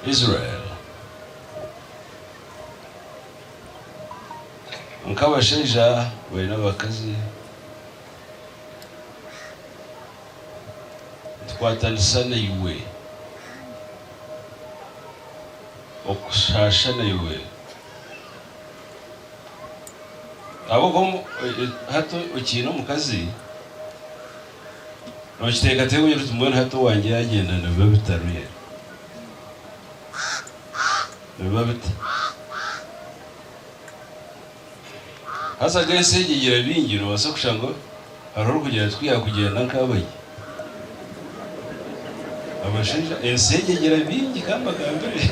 Israel. Nk'abashaija baine abakazi, nitukwatanisa naiwe okushaasha naiwe. Ahabw'okuba hati okiine omukazi. Nookiteekateeka omanya oti mbwenu hati owaangye yaagyenda nibiba bita really? Nibiba bita? Haza agu ensi egi eigira bingi noobaasa kushanga hariho orikugira ati ku yaakugyenda nkaabayo. Abashaija ensi egi eigira bingi ka mbagambire.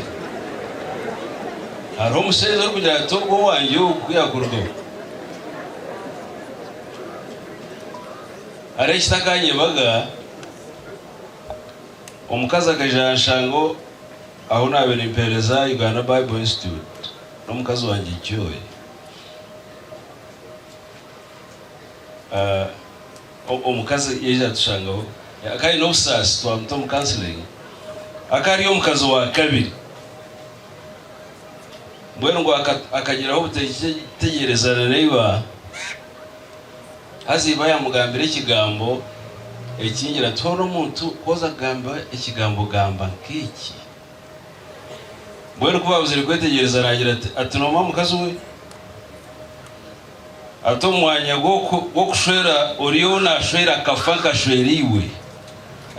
Hariho omushaija orikugira ati ogwo owaangye ogu ku yaakurugaho. Hariho ekitakanyebaga, omukazi akaija yaanshanga ahu naabaire mpeereza Uganda Bible Institute n'omukazi wangye Joy. Omukazi yaija atushangaho. Akaba aine obusaasi twamuta omu counselling. Akaba ari omukazi wa kabiri. Mbwenu ngu akagiraho obutegyerezana naiba. Haza iba yamugambira ekigambo ekingi ati, Hoona omuntu ku oza kugamba ekigambo gamba nk'eki. Mbwenu ku baabuzire kwetegyereza naagira ati, Ati nooma mukazi we? Ati omu mwanya gw'okushwera oriyo naashwera akafa nkashwera iwe.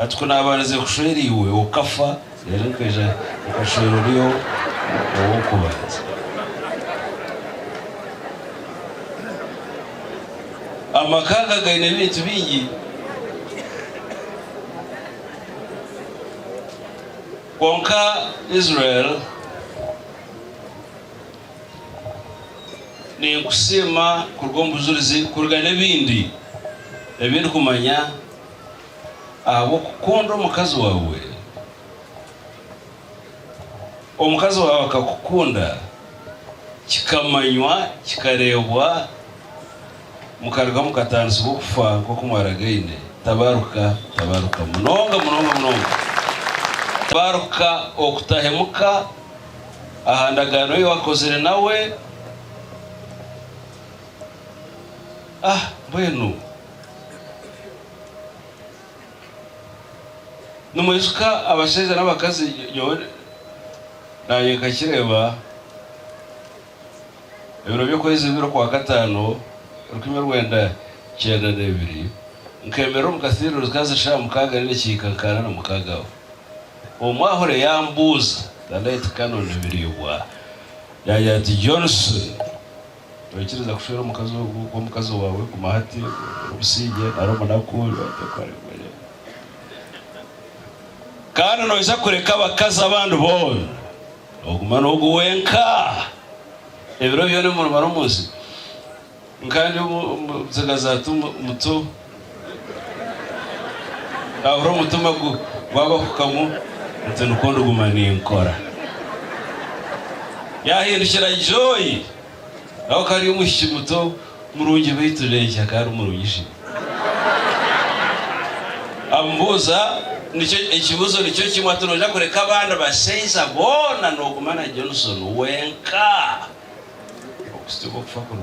Ati, Ku naabarize kushwera iwe okafa, reero nkaija nkashwera ori ow'okubanza. Amaka aga gaine ebintu bingi. Kwonka Israel, ninkusiima kuruga omu bujurizi kuruga n'ebindi ebi ndikumanya. ahabw'okukunda omukazi waawe. Omukazi waawe akakukunda, kikamanywa, kikareebwa, mukaruga mukataanisibwa okufa nk'oku mwaragaine. Tabaruka, tabaruka munonga munonga munonga. Tabaruka okutahemuka aha ndagaano ei wakozire nawe. Ah, mbwenu! Nimwijuka abashaija n'abakazi nyowe naanye nkakireeba ebiro by'okwezi bibiri okwa kataano rukumi rwenda kyenda n'ebiri nkemerera omu kathiiro zikazi shaa mukaaga nainga ekihika nka ana na mukaaga aho omwahure yaambuuza the late Canon Biryobwa yaagira ati Johnson Noikiriza kushwera omukazi ogu gw'omukazi waawe? Guma hati, ori omusinge nari omunaku. Kandi noija kureka abakazi abandi boona, oguma n'ogu wenka ebiro byona ebi murimara omu nsi. Nkandi omutsigazi ati, Muto. Nkahurira omutima gwabahukamu nti nikwo ndiguma ninkora. Yahindukira Joy nawe akaba ari omwishiki muto murungi beitu Reggie akaba ari murungi shi. Amubuuza ekibuuzo nikyo kimwe ati noija kureka abandi bashaija boona noguma na Johnson wenka? Okusitya obu okufa kuri.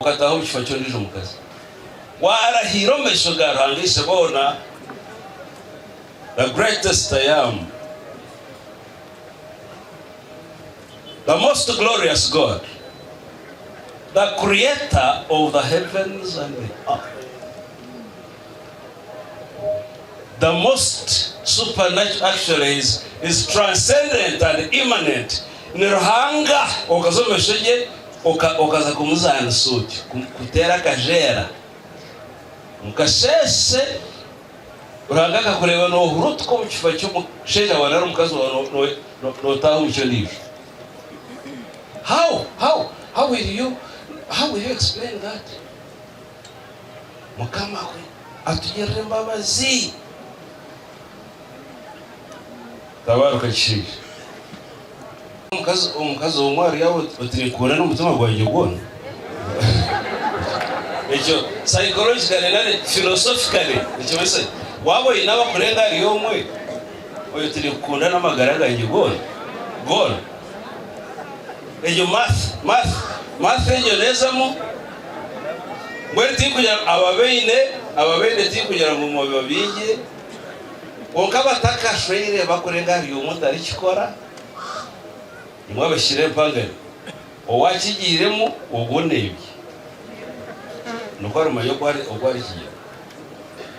Okataaha omu kifuba ky'ondiijo mukazi, waarahiira omu maisho ga Ruhanga Isheboona, the Greatest I Am, the Most Glorious God, the Creator of the Heavens and the Earth. The most supernatural actually is is transcendent and immanent ni Ruhanga okaza omu maisho ge okaza kumuzaanisa otyo kuteera akajeera omu kasheeshe Ruhanga akakureeba nohurutuka omu kifuba kyomushaija wa nari omukazi wawe notaaha omu ky'ondiijo how how how will you how will you explain that? Mukama we atugirire embabazi. Tabaruka ekishaija. Omukazi omukazi omwe ari aho oti oti ninkukunda n'omutima gwangye gwona. Ekyo psychologically nari philosophically nikimanyisa ki? Waaba oine abakurenga ahari omwe, oyo oti ninkukunda n'amagara gangye goona goona. Egyo math math math egyo neezamu. Mbwenu tikugira ngu ababaine ababaine tikugira ngu mube baingi, kwonka abatakashweire bakurenga ahari omwe otarikikora, imwe abashikire empangani, owakigiiremu ogwo nebye, nikwo arimanya oku arikigira.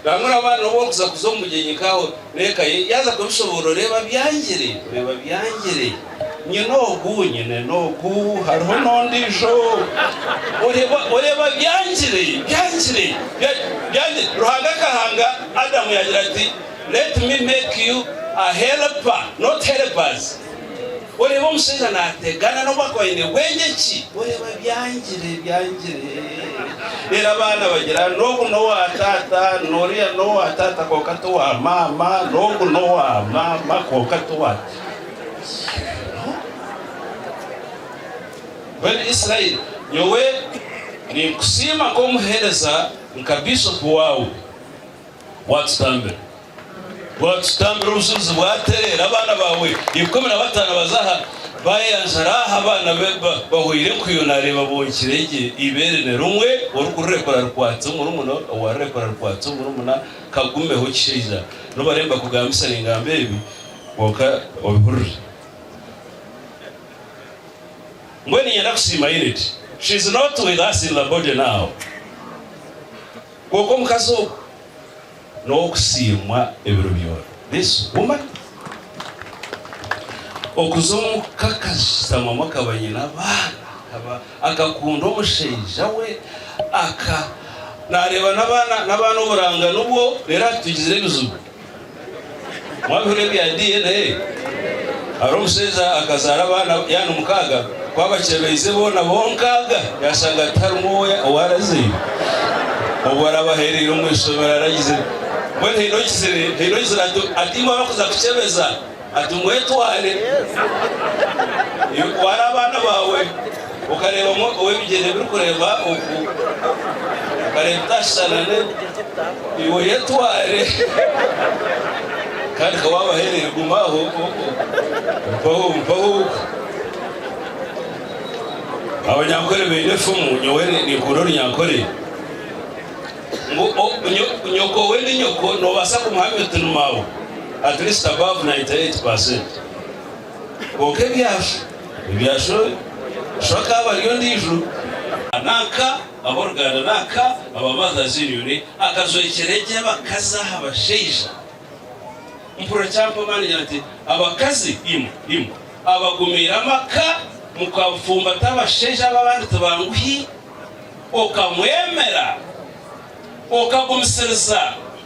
Bamwe oraba noba orikuza kuza omu mugyenyi nkawe reka ye yaza kubishoboorora oreeba byangire oreeba byangire nyine ogu nyine nogu hariho nondiijo oreeba oreeba byangire byangire byangire Ruhanga akahanga Adamu yagira ati let me make you a helper not helpers. Oreeba omushaija naategana n'obu akuba aine bwengye ki, oreeba byangire, byangire. Reero abaana bagira ngu ogu n'owa taata, n'oriya n'owa taata kwonka t'owa maama, n'ogu n'owa maama kwonka t'owa taata. Mbwenu Israeli, nyowe ninkusiima nk'omuheereza, nka biishopu waawe, waatutambira. Waatutambira obushozi bwatereera, abaana baawe ikumi na bataano baza aha, baayanjara aha abaana be bahoire enkuyo, naareeba bonkire gye eibeere nirimwe, orikurirekura arikwatse omurumuna, owaarirekura arikwatse omurumuna, kagumeho kishaija, nooba reero mbakugambisa ningamba ebi, kwonka obihurire. Mbwenu niinyenda kusiima Ireti, she is not with us in the body now, kwonka omukazi ogwo, n'ow'okusiimwa ebiro byona. Yesu guma. Okuza omu ka kasisitamamu akaba aine abaana, akaba akakunda omushaija we, aka naareeba n'abaana, n'abaana oburanga nibwo reero atugizire ebizibu. Mwabihurira ebya DNA? Hariho omushaija akazaara abaana yaana mukaaga, ku abakyebeize boona bo nkaaga yaashanga tiharimu ou arazaire. Obu araabe aheereire omu ishomero aragizire. Mbwenu haine ogizire, haine ogizire ati, ati imwe abarikuza kukyebeza, ati mwetware. Iwe twara abaana baawe. Okareeba omwe ow'ebigyere birikureeba oku, okareeba otaashushana naiwe. Yetware kandi ka waaba aheereire guma aho nk'oku. Mpaho, mpaho oku. Abanyankore baine efumu, nyowe ninkunda orunyankore, ngu Nyokoowe ndi nyoko, noobaasa kumuhamya oti ni maawe, at least above 98%. Kwonka ebyasha ebyasha oyo sho akaaba ari ondiijo. Nanka ab'oruganda nanka aba Mothers Union akajwekyera egi abakazi aha bashaija. Mpurira kyampa amaani ngira nti, Abakazi imwe, imwe abagumiire amaka mukafumbata abashaija aba abandi tibanguhi, okamwemera, okagumisiriza.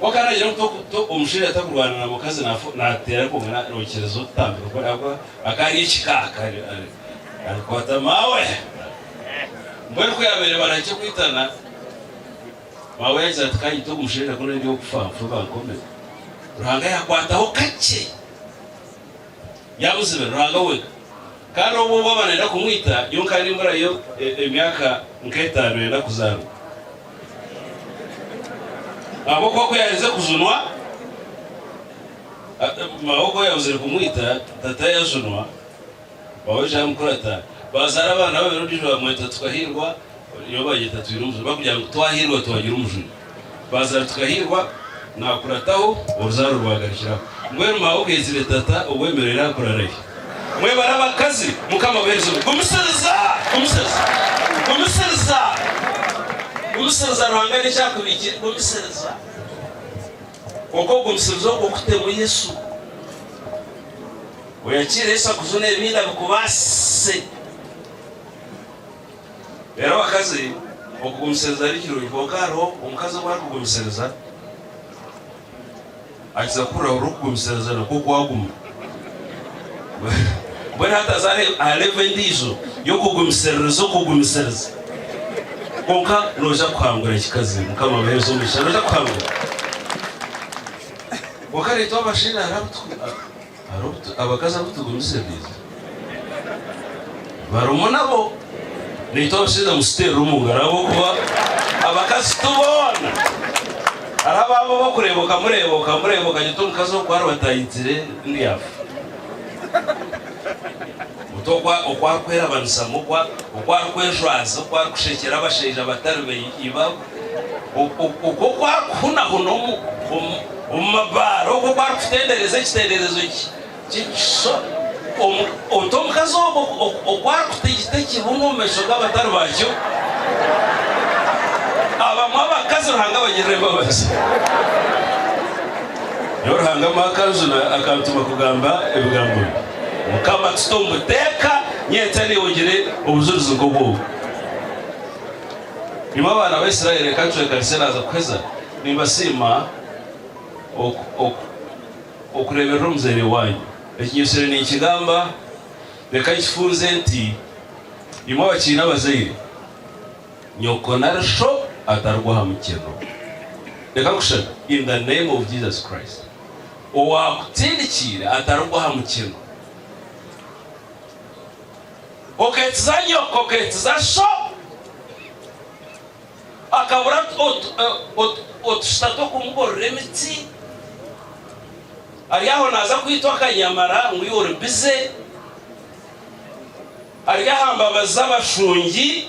Kwonka naagira ngu to omushaija takurwana na mukazi nafu nateera kwonka narokyereza otutambiro kuri ahabw'okuba akaba ari ekika akaba ari arikwata maawe. Mbwenu ku yaabaire barahikye kwitana, maawe yaagira ati kanyite ogu mushaija ku nari okufa nfe bankomire. Ruhanga yakwataho kakye. Yabuzibira Ruhanga wenka. Kandi obwo baba nayenda kumwita, nyowe nkaba nimburayo emyaka nk'etaano yenda kuzaarwa. Ahabw'okuba ku yaherize kujunwa, mama we ku yabuzire kumwita, tata yajunwa, mama we yija yamukurata, baazaara abaana babiri ondiijo bamweta Tukahirwa. Nibo baryeta Twine Omujuni barikugira ngu twahirwa twagira omujuni. Baazara tukahirwa, naakurataho, oruzaaro rwagarukiraho. Mbwenu maawe ogeizire tata obwemereire aha kurara gye. Mwebare abakazi, Mukama abaheereze omugisha. Gumisiriza! Gumisiriza! Gumisiriza! Gumisiriza! Ruhanga n'eki akubikiire. Gumisiriza! Kwonka okugumisiriza okwo kutemu Yesu. Oyakiire Yesu akujune ebindi abikubaasise. Reero abakazi, okugumisiriza ni kirungi, kwonka hariho omukazi ogu arikugumisiriza akiza kuhurira buri orikugumisiriza nikwo kwaguma. Mbwenu hataza aha levo endiijo y'okugumisiririza okugumisiriza. Kwonka nooja kuhangura kikazi. Mukama abaheereze omugisha. Nooja kuhangura. Kwonka reetwa abashaija hariho abu. Hariho abakazi abu tugumize baija. Barimu nabo. Naitwe abashaija mututeerere omu ngaro ahabw'okuba abakazi ti boona. Hariho abaabo ab'okureeba okamureeba okamureeba okagira oti omukazi ogu ku ari bataahikiire ndi afa. Oti oku oku arikwerabanisa mu oku arikwejwaza oku arikushekyera abashaija abatari ba ibawe. Okwo oku arikuhunahuna omu mabaare, okwo oku arikutendereza ekitenderezo ky'ekishushani, ota omukazi ogwo oku arikuta ekita ekirungi omu maisho g'abatari bakyo, abamwe abakazi Ruhanga abagirira embabazi. Nyowe Ruhanga amuha akanjuna, akantuma kugamba ebigambo bi. Mukama akisite omu buteeka, nyenkya ningire obujurizi nk'obw'obu. Nimwo abaana ba Israeli reka ncwekanise naaza kuheza nimbasiima okureeberera omuzaire waanyu. Ekinyesire ninkigamba, reka nkifunze nti imwe abakiine abazaire, nyoko nari sho atarugwa aha mukyeno. Reka nkushashe in the name of Jesus Christ, owaakutindikiire atarugwa aha mukyeno. Kokeetiza nyo, kokeetiza sho, akabura otushita tw'okumuborora emiti, ari aho naaza kwitwa akanyamara ngu iwe ori bize, ari aha mbabazi z'abashungi.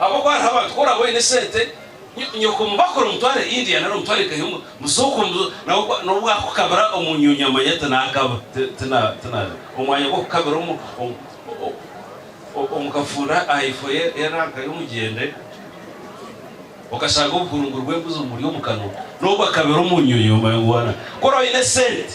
Ahabw'okuba hariho abantu ku oraabe oine esente, nyoko omu bakora omutware India nari omutware eka emwe, musooke omu, nawe n'obu akukabira omu nyonyi amanya tinaakaba, tina, tina, omwanya gw'okukabira omu, omu, omu, omu kafuunda aha ifo ye, y'eranka y'omugyende, okashanga obuhurunguru bw'embuzi bumuri omu kanwa, n'obu akabira omu nyonyi omanya ngu waana. Ku oraabe oine esente.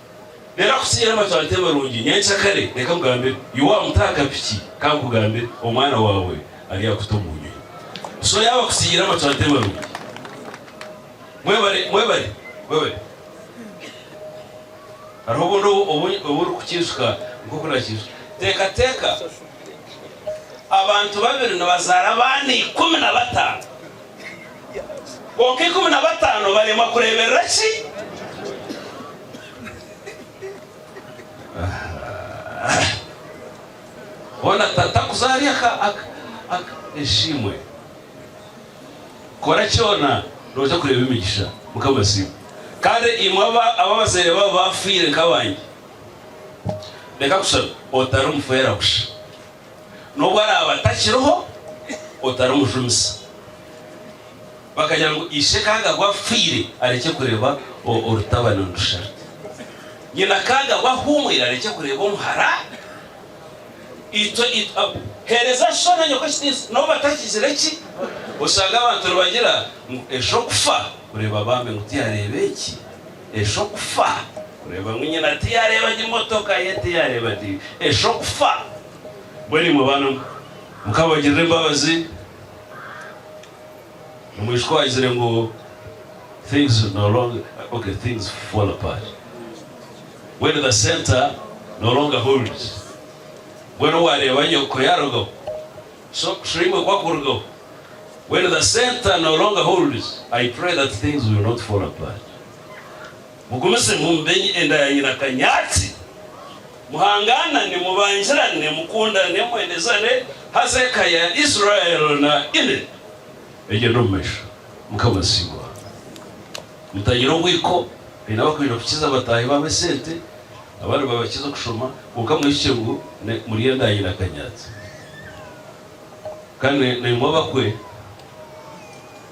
Reero akutsiire amatwariita marungi, nyenkya kare reka nkugambire, Yoabu mutaho akapiki, ka nkugambire, omwana waawe aryakuta omu nyonyi. So yaaba akutsiire amatwariita marungi. Mwebare, mwebare, mwebare. Hariho obundi obu, obu, obu orikukiijuka nk'oku naakiijuka. Teekateeka, abantu babiri nibazaara abaana ikumi na bataano. Kwonka ikumi na bataano baremwa kureeberera ki? Boona tata kuza ahari aka, aka, aka. Eshiimwe. Kora kyona nooja kureeba emigisha. Mukama asiimwe. Kandi imwe aba, aba abazaire baabo baafiire nk'abangi, reka kushabe otari mufeera busha. n'obu araaba atakiriho otarimujumisa. Bakagira ngu ishe ka agabwa afiire arekye kureeba orutabani nirusharita, nyina ka agabwa ahuumwire arekye kureeba omuhara. Heereza sho na nyoko ekitiinisa n'obu batakigire ki. Oshanga abantu nibagira ngu esho kufa kureeba baame ngu tiyareeba eki Esho kufa kureeba ngu nyina tiyareeba gye motoka ye tiyareeba gye esho kufa mbwenu imwe baana mukabagirira embabazi omwishiki owagizire ngu things no longer ok things fall apart when the center no longer holds mbwenu owareeba nyoko yarugaho So kushuha imwe kwakurugaho when the center no longer holds I pray that things will not fall apart mugumize mumbenye enda ya nyina kanyatsi muhanganane mubangirane mukundane mwenezane haza eka ya Israel na Ine egyende omumaisho mukama asiimwe. Mutagira omwiko, haine abakwenda kukiza bataahi baabo esente, abandi babakiza okushoma, kwonka mwihikye ngu murye endaayi na kanyatsi. Kandi na imwe abakwe,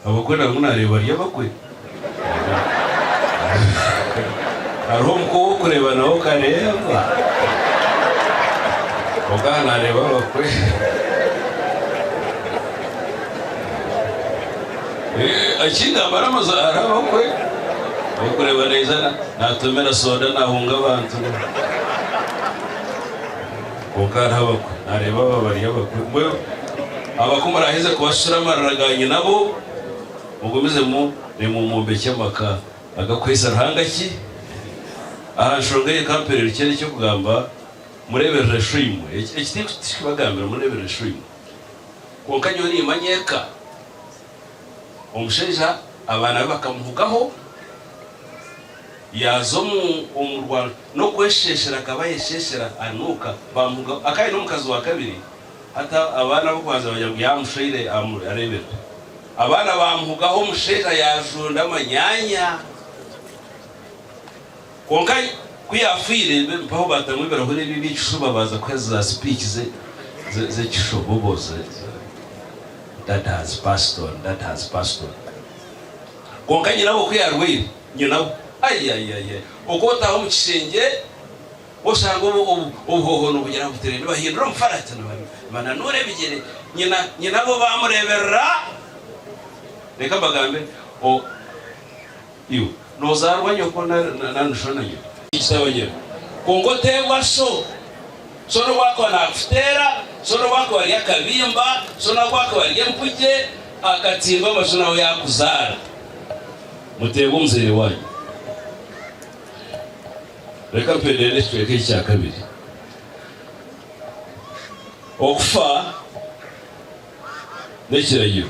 abakwe nabamwe nareeba bari abakwe. Hariho omukwe ow'okureeba nawe okareeba, kwonka aha nareeba abakwe. Ekindi amara amazaara hariho abakwe orikureeba naija naatomera soda naahunga abantu kwonka hariho abakwe naareeba aba bari abakwe. Mbwenu abakwe muraaheze kubashusha amarira ga nyinabo mugumizemu reero mwombekye amaka agakuhaisa Ruhanga ki? Aha nshonga eyo ka mpereerukye n'eky'okugamba, Mureeberere Shwimu. Eki tikubagambira, mureeberere Shwimu. Kwonka nyowe niimanya eka omushaija abaana be bakamuhugaho yaaza omu rwaro n'okwesheeshera akaba aayesheeshera anuuka baamuhugaho akaba aine omukazi wa kabiri hati abaana ab'okubanza baagira ngu yaamushweire areebekwe abaana baamuhugaho omushaija yaajunda amanyaanya. Kwonka ku yaafiire, bempeho baatamu ebirahuri ebyo eby'ekishuba baaza kuheereza za sipiiki z'ekishobobo, Dad has passed on, Dad has passed on. Kwonka nyina we ku yaarwaire, nyina we, ayayaya, oku otaaha omu kishengye oshanga obuhooho nibugira buti reero nibahindura omufarati, nibananuura ebigyere. Nyina, nyina we baamureeberera, reka mbagambe, o. Iwe nozaarwa nyoko nari sho na nyina? Kitaawe nyina. Kwonka oteebwa sho. Sho n'obu akuba naakuteera, sho n'obu akuba ari akabimba, sho n'obu akuba ari empugye, akatimba mbasho nawe yaakuzaara. Muteebwa omuzaire waanyu. Reka mpendere n'ekicweka eki kya kabiri. Okufa n'ekiragiro.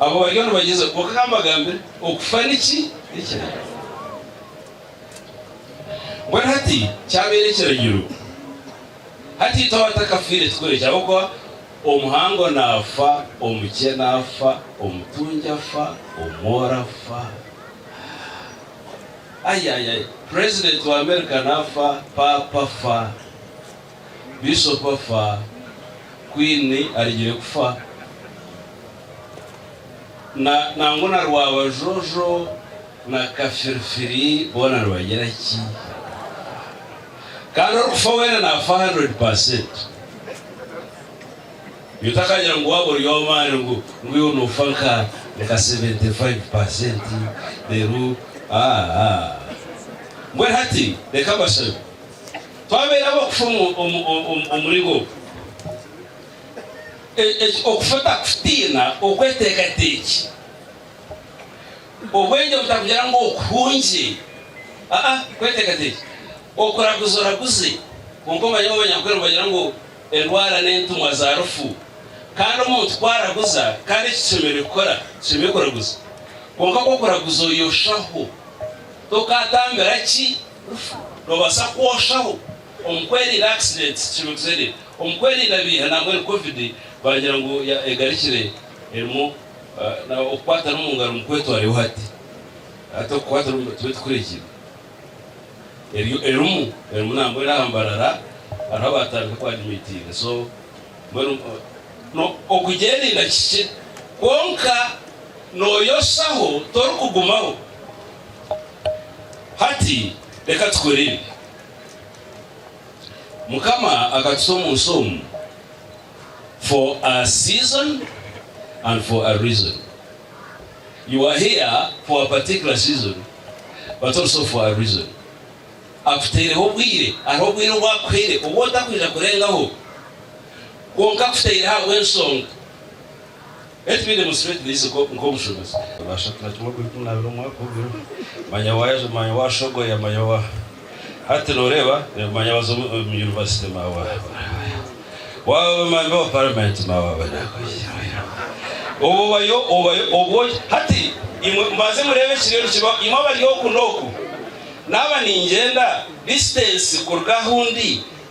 Abo bariyo nibagyezaho kwonka kambagambire okufa niki ekiragiro. Mbwenu hati kyabaire ekiragiro hati itwe abatakafiire tikurekya ahabwokuba omuhango nafa, omukye nafa, omutungi afa, omworo afa Ayayaya president wa America nafa, papa afa. Bishop afa, Queen arigire kufa, na nangwa na Rwabajojo na Kafirifiri boona nibagira ki? Kandi orikufa weena nafa hundred percent. Iwe otakagira ngu waaba ori ow'amaani ngu ngu iwe noofa nka nka seventy five percent reero aa. Mbwenu hati reka mbashabe. Twabeera ab'okufa omuri bo. Okufa otakutiina, okweteekateekye, obwengye butakugira ngu okuhungye, aa, kweteekateekye, okuraguzoraguze, kwonka omanye ngu Abanyankole nibagira ngu endwara n'entumwa za rufu, kandi omuntu ku araguza, kandi eki tushemereire kukora, tushemereire kuraguza. Kwonka ku okuraguza oyoshaho, tokatambira ki? Nobaasa kwoshaho omu kwerinda accidents kibugzire omu kwerinda biiha nambwenu covid baagira ngu egarikire erimu okukwatana omu ngaro mukwetwareho hati hati okukwatana omu tube tukurikire eriyo erimu erimu nambwenu aha mbarara hariho abaatandika ku admitinga so mbwenu no okugyerinda kikye kwonka noyoshaho torikugumaho. Hati reka tukore ebi, Mukama akatuta omu nsi omu for a season and for a reason. You are here for a particular season but also for a reason. Akuteireho obwire, hariho obwire obu akuhaire obu otakwija kurengaho, kwonka akuteireho ahabw'ensonga. Beitu beine Museveni niize nk'omushomesa. Baasha kukira kimwe okuri kumi n'abiri omu mwaka ogwo. Manya waayaja, manya waashogoya, manya wa. Hati nooreeba, manya waza omu yunivasite, manya wa. Waabamemba ba Paramenti, manya waaba naaku. Obwo obayo, obayo, obwo. Hati imwe mubanze mureebe ekiriyo nikibaho. Imwe abari oku n'oku, naaba ningyenda disitansi kuruga ahu ndi,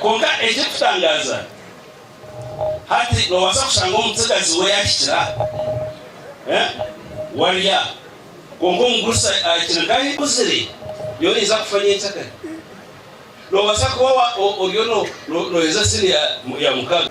Kwonka ekirikutangaza, hati noobaasa kushanga omutsigazi we yaahikira warya, kwonka omugurusi ahikire nk'ahu ikuzire yo naija kufa nyenkyakare. Noobaasa kuba oriyo nooheza sini ya mukaaga.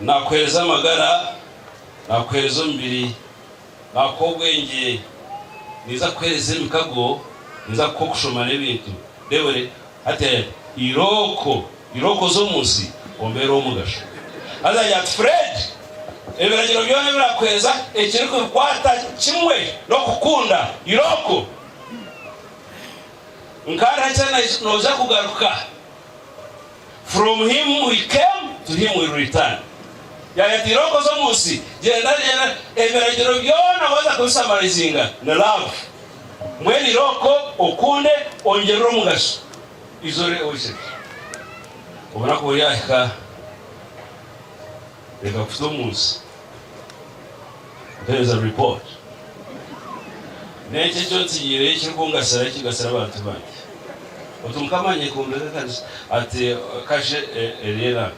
Nakuheereza amagara, nakuheereza omubiri, nakuha obwengye, ninza kukuheereza emikago, ninza kukuha okushoma n'ebintu. Debore, Hati yayeta irooko, irooko z'omu nsi, ombeere ow'omugasho. Haza yaagira ati, Fred, ebiragiro byona ebi nakuheereza, ekirikubikwata kimwe n'okukunda irooko. Nkaariha kye nooza kugaruka? From him we came, to him we'll return. Yayatira okoza omu nsi, gyenda gyenda, ebiragiro byona waza kubisamarizinga ni love. Mbwenu ira oko okunde ongyerere omugasho. Izooba oiseke. Obunaku buryahika Reka kuta omu nsi. Mpereza report. N'enki eki ontsigiireyo ekirikungasira ekigasire abantu bangi? Oti Mukama anyekombeka ekanisa? Ati kasha eri era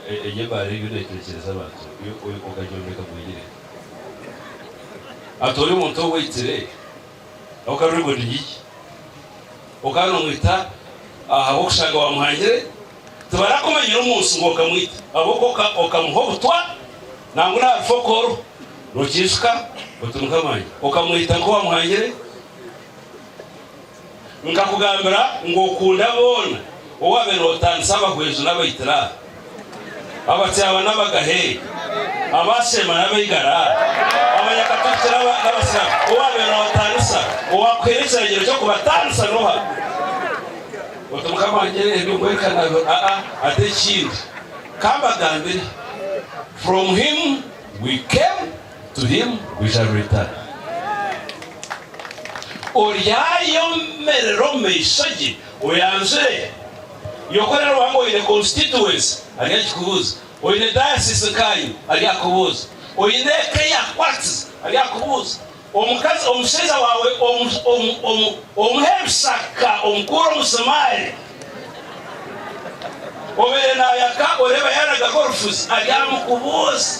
eri ebaara ebi neetekyereza abantu yo ogagyombeka gwegire. Ati ori omuntu owaitire? Okaba ori muntu giki? Okaba nomwita ahabw'okushanga wamuhangire? Tibarakumanyire omu nsi ngu okamwita ahabw'okuba okamuha obutwa nangwa n'aha rufokooro. Nokiijuka oti Mukama wangye? Okamwita nku wamuhangire? Nkakugambira ngu okunda boona, owabaire notandisa abahweezu n'abaitiraha. Abakyaba n'abagahe, Abashema n'abaigara, Abanyakatafiki n'abasiramu, owaabaire naabataanisa, owaakuhaire ekiragiro ky'okubataanisa n'oha? Oti, Mukama wangye, ebyo nkwereka nabihurira. Aa, ati ekindi, ka mbagambire, From him we came, to him we shall return. Oryayemerera omu maisho ge, oyanjure. Nyokora Ruhanga oine constituency ari akikubuuza, oine diocese nkayo ari akubuuza, oine eka eyakukwatize ari akubuuza, omukazi omushaija waawe omuha ebishaka omukuura omusumaari, obaire naayaka oreeba yaaragaho orufuzi ari amukubuuza.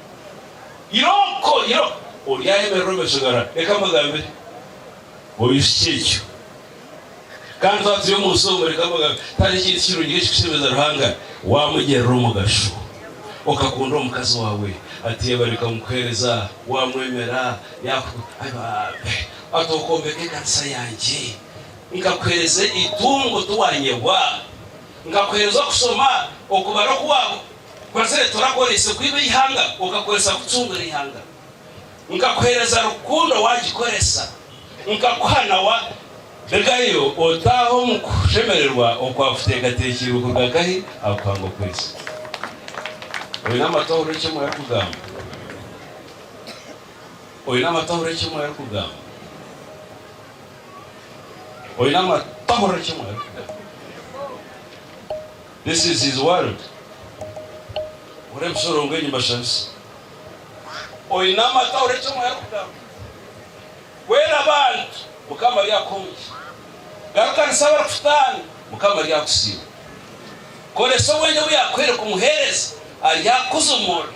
Iroko, iro, oryayemerera omu maisho ga Ra. Reka mbagambire, Oihiki ekyo. Kandi twaba turi omu nsi omu, reka mbagambire, tihariho ekintu kirungi nk'ekikushemeza Ruhanga waamugyerera omugasho, okakunda omukazi waawe, ati yabareka omu kuheereza, waamwemera, yaaku. Ai babe! Ati okombeka ekanisa yangye, nkakuheereza eitungo, tiwanyebwa. Nkakuheereza okusoma, okubara oku waaba okwazire torakoreise kwiba eihanga, okakoresa kucungura eihanga. Nkakuheereza rukundo waagikoresa, nkakuha na wa. Regayo otaahe omu kushemererwa okwa kuteekateekirwe kuruga akahi akuhanga okwezi. Oine amatu ahurire eki Omwe arikugamba? Oine amatu ahurire eki Omwe arikugamba? Oine amatu, tahurira eki omwe arikugamba. This is his world. Hurira ebishorongo enyi mbashabise. Oine amatu ahurire eki omwe arikugamba. Hwera abantu, Mukama ari akuhe omugisha. Garukanisa abarikutaana, Mukama ari akusiime. Koresa obwengye obu yaakuhaire kumuheereza, ari akuze omu mwoyo.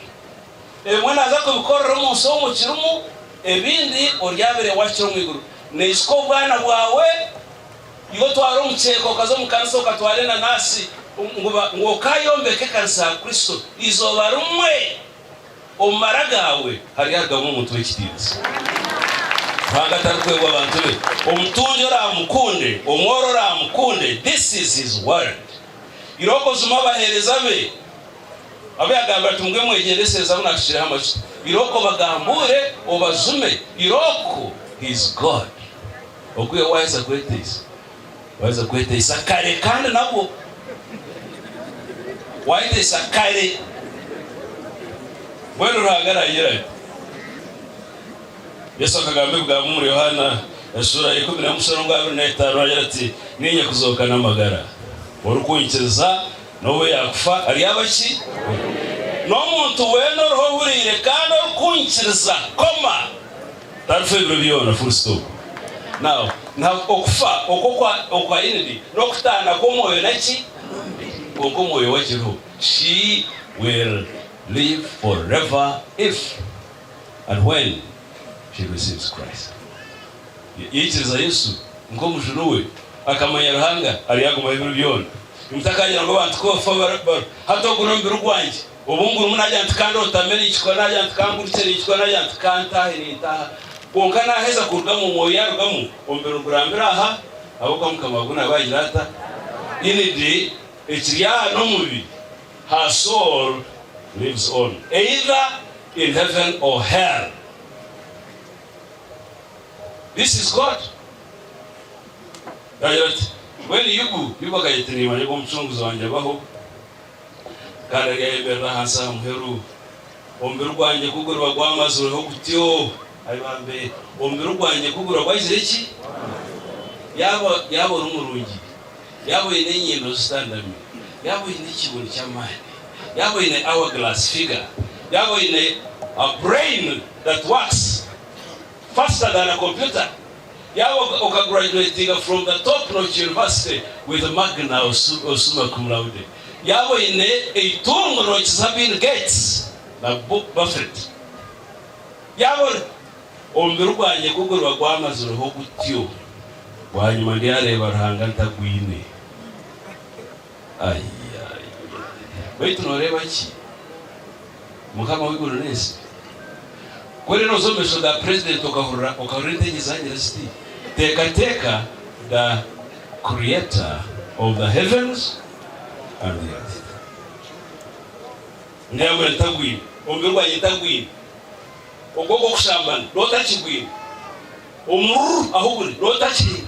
Ebimwe naaza kubikorera omu nsi omu kirimu, ebindi oryabeire wakira omu iguru. Naishuka obwana bwawe, iwe otwara omukyeeka okaza omu kanisa okatwara enanasi ngu ngu okayombeka ekanisa ya Kristo. Eizooba rimwe omu mara gaawe haryarugamu omuntu w'ekitiinisa. Ruhanga tarikweebwa abantu be. Omutungi oraamukunde, omworo oraamukunde, this is his world. Irookozima abaheereza be. Abu yagambira ati, Mugwe mwegyendesereze abu naashukireho amajuta, irooko obagambuure, obajume, irooko He is God. Ogu iwe waaheza kweteisa, waaheza kweteisa kare kandi nabwo. Waayeteisa kare. Mbwenu Ruhanga araagira ati. Yesu akagamba ebigambo omuri Yohaana eshuura ya ikumi n'emwe omusharo gwa abiri n'etaano, naagira ati, Niinye kuzooka n'amagara. Orikunkiriza. N'obu yaakufa aryaba ki? N'omuntu weena oriho ohuriire kandi orikunkiriza, koma, tarifa ebiro byona. Full stop. Now, na okufa oku okwa, okwa Inidi, n'okutaana kw'omwoyo na ki? N'omubiri. Kwonka omwoyo we akiriho. She will live forever if and when she receives Christ. Yaikiriza Yesu nk'Omujuni we, akamanya Ruhanga, aryagumaho ebiro byona. Mutakagira ngu abantu koofa bari hati ogu n'omubiri gwangye obu ngurimu naagira nti ka ndootame ninkikora naagira nti ka ngurikye ninkikora naagira nti ka ntaahe nintaaha kwonka naaheza kurugamu omwoyo yaarugamu omubiri gurambire aha habw'okuba Mukama waago naabe agira ata inide ekiri aha n'omubiri her soul lives on either in heaven or hell. This is God. Yaagira ati, Mbwenu Yubu, Yubu akagira ati, Niimanya ku Omucunguzi wangye abaho, kandi ari ayemerire ahansi aha muheru. Omubiri gwangye ku guriba gwamazirweho gutyo, Ai bambe, omubiri gwangye ku guriba gwagizire ki? Yaaba, yaaba ori murungi, yaaba oine enyindo zitandami, yaaba oine ekibunu ky'amaani, yaaba oine hourglass figure, yaaba oine a brain that works, First agana computer yaaba oka graduatinga from the top notch university with magna osuma cum laude yaaba oyine eitungo nokiza bill gates na buffet yaaba ori omubiri gwangye kuguriba gwamazireho gutyo bwanyima ndyareeba ruhanga ntagwine. Baitu noreeba ki mukama w'eiguru n'ensi? Kuri noza omu maisho ga president okahurira entege zagira ziti teekateeka the creator of the heavens and the earth ngu yaagira ngu tagwine, omubiri gwangye tagwine, okwo kw'okushambana nootakigwine, omururu ahu guri nootakihine.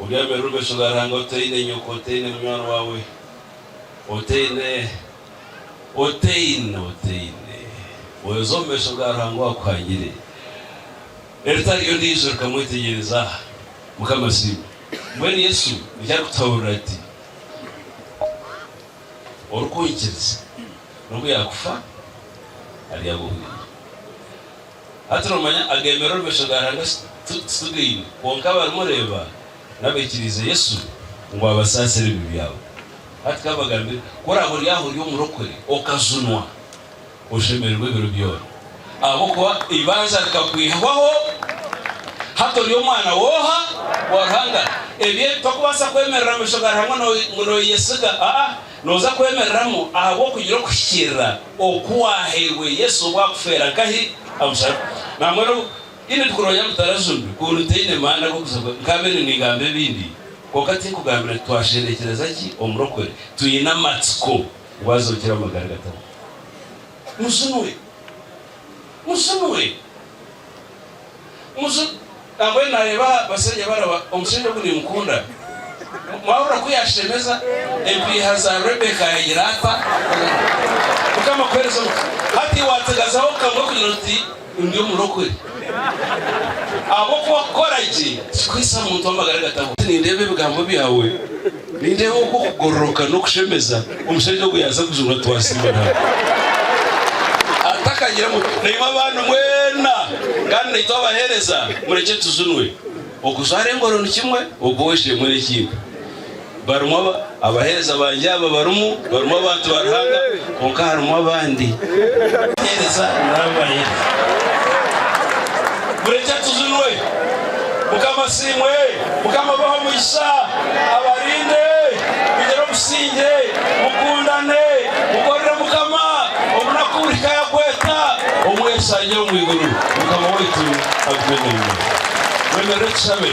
Obyamire orubesho rwa Ruhanga otaine nyoko, otaine munywani waawe, otaine, otaine, otaine oza omu maisho ga Ruhanga owaakuhangire. Eritari ondiijo rikamwetegyereza. Mukama asiimwe. Mbwenu Yesu nikyo arikutuhaburira ati, Orikunkiriza, n'obu yaakufa, aryaba owangye. Hati noomanya ageemerera omu maisho ga Ruhanga titugaine, kwonka abarimu reeba n'abaikiriize Yesu ngu abasaasire ebibi byabo. Hati ka mbagambire, ku oraabe ori aho ori omurokore okajunwa, oshemererwe ebiro byona, ahabw'okuba eibanza rikakwihwaho, hati ori omwana w'oha? Wa Ruhanga. Ebi ebi tokubaasa kwemerera mu maisho ga Ruhanga ngu nooyeyesiga, aa, nooza kwemereramu ahabw'okugira okuhikiirira. Oku waahairwe Yesu obu akufeera nkahi aha musharaba? Nangwa n'obu haine ebi kurooya bitarajunire, ku buri ntaine maani ag'okuza kubi, nkaabire ningamba ebindi, kwonka tinkugambira nti twasherekyereza ki omurokore twine amatsiko ngu azookire amagara gatabuka. Mujunwe! Mujunwe! Muju nambwenu nareeba aha bashaija baraba omushaija ogu nimukunda. Mwahurira ku yashemeza? Empiiha za Rebecca yagira ata? Mukama akuhereze omugisha. Hati wategazaho kamwe kugira oti ndi omurokore. Ahabw'okuba kukora gye tikikuhitsya muntu w'amagara gataho. Nindeeba ebigambo byawe. Nindeeba oku okugororoka n'okushemeza omushaija ogwo yaaza kujurwa twasiima Ruhanga atakagira ngu naimwe abandi mwena kandi naitwe abaheereza murekye tujunwe. Okujwara engoro ni kimwe, okuboha esheemwe n'ekindi. Barimu abaheereza bangye aba barimu, barimu abantu ba Ruhanga. Kwonka harimu abandi. Teereza namba ye. Murekye tuzinwe. Mukama asiimwe. Mukama abahe omugisha. Abarinde. Mugire obusingye. Mukundane. Mukorere Mukama. Omunaku burihika yakweta. Omwesangye omu iguru. Mukama waitu agume naimwe. Mwemerere tushabe.